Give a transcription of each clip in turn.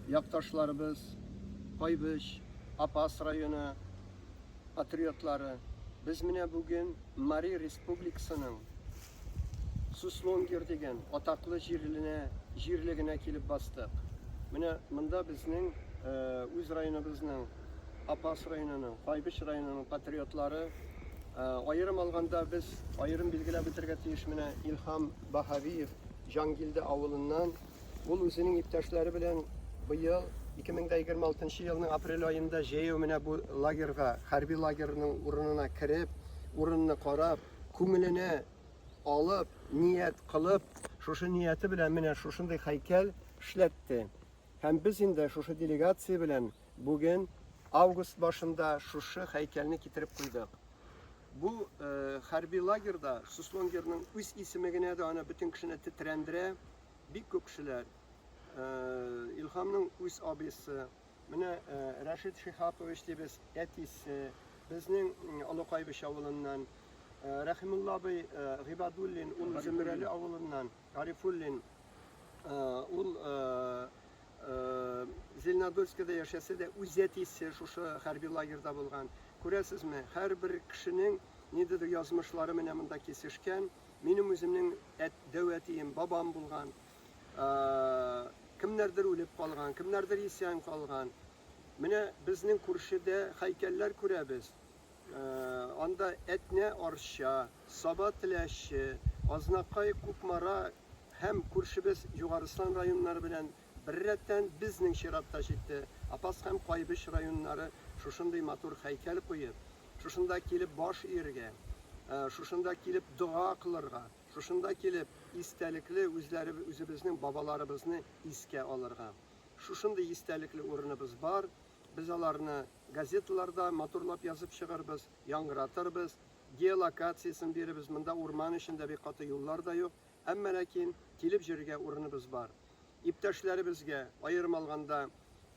Якташларыбыз Кайбыч, Апас районы патриотлары, без менә бүген Мари Республикасының Суслонгер дигән атаклы җирленә, җирлегенә килеп бастык. Менә монда безнең үз районыбызның Апас районының, Кайбыч районының патриотлары аерым алганда без аерым билгеләп үтәргә тиеш менә Илһам Баһавиев Җангилде авылыннан Ул үзенең иптәшләре белән быел 2026 елның апрель аенда җәяү менә бу лагерьга, хәрби лагерьның урынына кереп, урынны карап, күңеленә алып, ният кылып, шушы нияте белән менә шушындый хәйкәл эшләтте. Һәм без инде шушы делегация белән бүген август башында шушы хәйкәлне китереп куйдык. Бу э, хәрби лагерьда Суслонгерның үз исеме генә дә аны бөтен кешене тетрәндерә, бик күп кешеләр э, Илхамның үз абысы, менә э, Рәшид Шихапович дибез, әтисе, безнең Олыкайбыч авылыннан, э, Рәхимулла абый Гыйбадуллин, ул Зөмрәле авылыннан, Гарифуллин, ул Зеленодольскида яшәсә дә, үз әтисе шушы хәрби лагерьда булган. Күрәсезме, һәрбер кешенең ниндидер язмышлары менә монда кисешкән. Минем үземнең әт, дәү әтием, бабам булган. Кемнәрдер үлеп калган, кемнәрдер исән калган. Менә безнең күршедә хәйкәлләр күрәбез. Анда Әтнә Арча, Саба Теләче, Азнакай Кукмара һәм күршебез Югарыслан районнары белән Беррәттән, безнең чират та җитте. Апас һәм Кайбыч районнары шушындый матур һәйкәл куеп, шушында килеп баш ияргә, шушында килеп дога кылырга, шушында килеп истәлекле үзебезнең бабаларыбызны искә алырга. Шушындый истәлекле урыныбыз бар. Без аларны газеталарда матурлап язып чыгарбыз, яңгыратырбыз, геолокациясен бирербез. Монда урман эчендә бик каты юллар да юк. Әмма ләкин килеп җөрергә урыныбыз бар. Иптәшләребезгә, аерым алганда,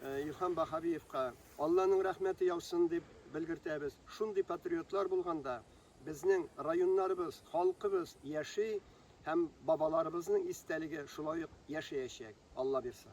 Илһам Баһавиевка Алланың рәхмәте яусын дип белгертәбез. Шундый патриотлар булганда, безнең районнарыбыз, халкыбыз яши һәм бабаларыбызның истәлеге шулай ук яшәячәк, Аллабирса.